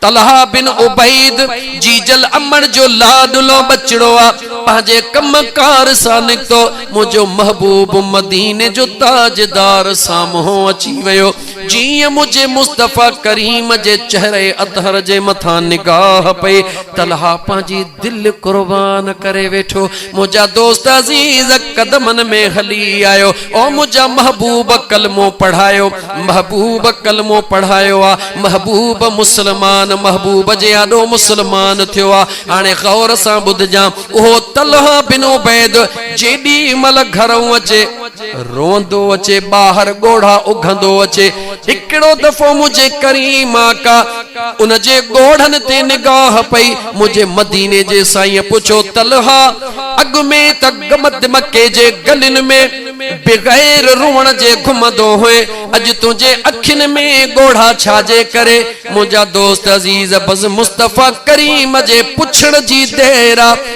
طلحه بن عبيد، جيجل امڙ جو لاڏلو ٻچڙو آ، پنهنجي ڪم ڪار سان نڪتو، منهنجو محبوب مديني جو تاجدار سامهون اچي ويو، جيئن منهنجي مصطفيٰ ڪريم جي چهري اطهر جي مٿان نگاهه پئي، طلحه پنهنجي. دل قربان ڪري ويٺو منهنجا دوست عزيز قدمن ۾ هلي آيو او منهنجا محبوب ڪلمو پڙهايو محبوب ڪلمو پڙهايو آ محبوب مسلمان محبوب جي آڏو مسلمان ٿيو آ هاڻي غور سان ٻڌجان اهو طلحه بن عبيد جيڏي مهل گهرئون اچي روئندو اچي ٻاهر ڳوڙها اگهندو اچي هڪڙو دفعو منهنجي ڪريم آقا ان جي ڳوڙهن تي نگاهه پئي منهنجي مديني جي سائينء پڇيو طلحه اڳ ۾ ته گمد مڪي جي گلين ۾ بغير روئڻ جي گهمندو هئين اڄ تنهنجي اکين ۾ ڳوڙها ڇا جي ڪري منهنجا دوست عزيز بس مصطفيٰ ڪريم جي پڇڻ جي دير آ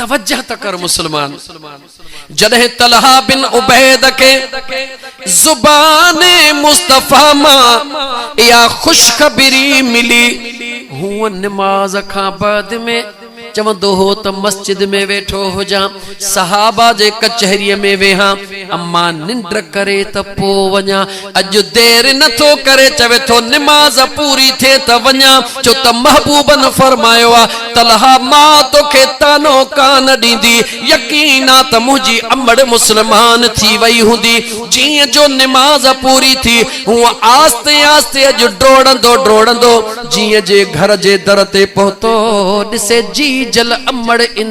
توجه ته ڪر مسلمان جڏهن طلحه بن عبيد کي زبان مصطفيٰ مان اها خوشخبري ملي هو نماز کان بعد ۾ چوندو هو ته مسجد ۾ ويٺو هجان صحابه جي ڪچهريء ۾ ويهان، امان ننڊ ڪري ته پوء وڃان، اڄ دير نه ٿو ڪري، چوي ٿو نماز پوري ٿئي ته وڃان، ڇو ته محبوبن فرمايو آ، طلحه مان توکي طعنو ڪانه ڏيندي، يقين آ ته منهنجي امڙ مسلمان ٿي وئي هوندي، جيئن جو نماز پوري ٿي، هونء آهستي آهستي اڄ ڊوڙندو ڊوڙندو جيئن جي گهر جي در تي پهتو، ڏسي جيجل امڙ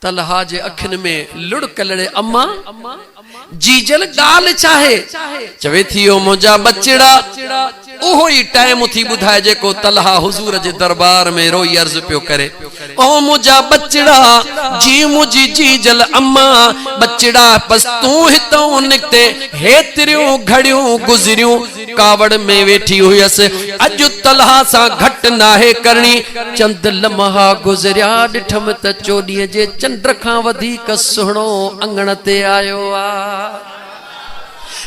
طلحه جي اکين ۾ لڙڪ لڙي اما! جيجل ڳالهه ڇاهي؟ چوي ٿي او منهنجا ٻچڙا! اهو ئي ٽائيم ٿي ٻڌائي جيڪو طلحه حضور جي دربار ۾ روئي عرض پيو ڪري، او منهنجا ٻچڙا! جي منهنجي جيجل اما! ٻچڙا! بس تون هتئون نڪتين هيتريون گهڙيون گذريون ڪاوڙ ۾ ويٺي هيس، اڄ طلحه سان گهٽ ناهي ڪرڻي. چند لمحا گذريا، ڏٺم ته چوڏهينء جي چنڊ کان وڌيڪ سهڻو اڱڻ تي آيو آ.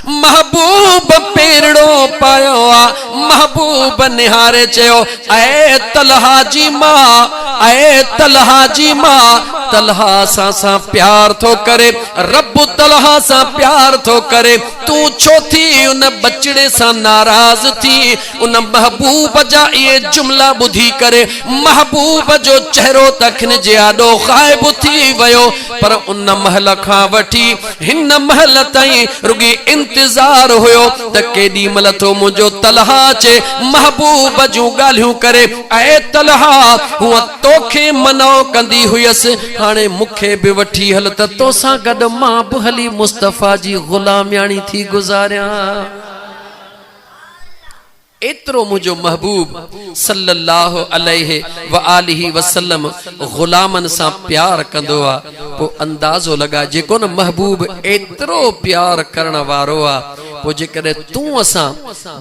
محبوب پيرڙو پايو آ. محبوب نهاري چيو، اي طلحه جي ماء، اي طلحه جي ماء، طلحه اسان سان پيار ٿو ڪري، رب طلحه سان پيار ٿو ڪري. تون ڇو ٿي ان ٻچڙي سان ناراض ٿي؟ ان محبوب جا اهي جملا ٻڌي ڪري محبوب جو چهرو ته کن جي آڏو غائب ٿي ويو پر ان مهل کان وٺي هن مهل تائين رڳي انتظار هيو ته ڪيڏي مهل ٿو منهنجو طلحه اچي محبوب جون ڳالهيون ڪري اي طلحه هونء توکي منع ڪندي هيس، هاڻي مون کي به وٺي هل ته توسان گڏ مان به هلي مصطفيٰ جي غلامياڻي ٿي گذاريان. ايترو منهنجو محبوب صلّي اللّٰه عليه واٰله وسلّم غلامن سان پيار ڪندو آ، پوء اندازو لڳاء جيڪو نه محبوب ايترو پيار ڪرڻ وارو آ، پوء جيڪڏهن تون اسان،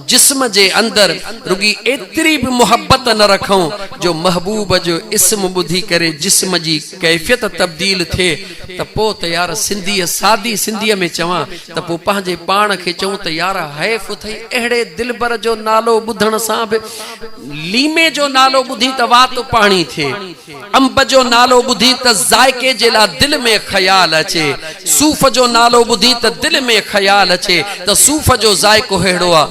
جسم، جي اندر رڳي ايتري به محبت نه رکون جو محبوب جو اسم ٻڌي ڪري جسم جي ڪيفيت تبديل ٿئي ته پوء ته يار سنڌيء سادي سنڌيء ۾ چوان ته پوء پنهنجي پاڻ کي چئون ته يار حيف اٿئي اهڙي دلبر جو نالو ٻڌڻ سان به ليمي جو نالو ٻڌين ته وات پاڻي ٿئي. انب جو نالو ٻڌي ته ذائقي جي لاء دل ۾ خيال اچي، صوف جو نالو ٻڌي ته دل ۾ خيال اچي ته صوف جو ذائقو ههڙو آ،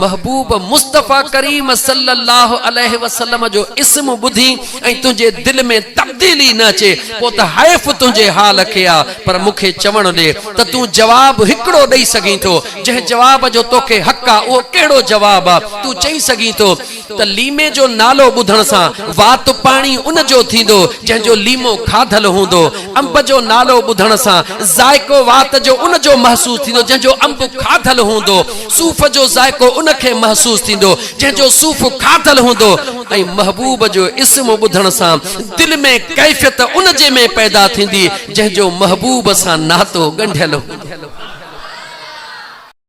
محبوب مصطفيٰ ڪريم صلّي اللّٰه عليه وسلّم جو اسم ٻڌي ۽ تنهنجي دل ۾ تبديلي نه اچي پو ته حيف تنهنجي حال کي آ، پر مون کي چوڻ ڏي ته تون جواب هڪڙو ڏئي سگهين ٿو، جنهن جواب جو توکي حق آ اهو ڪهڙو جواب آ، تون چئي سگهين ٿو. ته ليمي جو نالو ٻڌڻ سان وات پاڻي ان جو ٿيندو جنهن جو ليمو کاڌل هوندو. انب جو نالو ٻڌڻ سان ذائقو وات جو ان جو محسوس ٿيندو جنهن جو انب کاڌل هوندو. صوف جو ذائقو ان کي محسوس ٿيندو جنهن جو صوف کاڌل هوندو ۽ محبوب جو اسم ٻڌڻ سان دل ۾ ڪيفيت ان جي ۾ پيدا ٿيندي جنهن جو محبوب سان ناتو ڳنڍيل هوندو.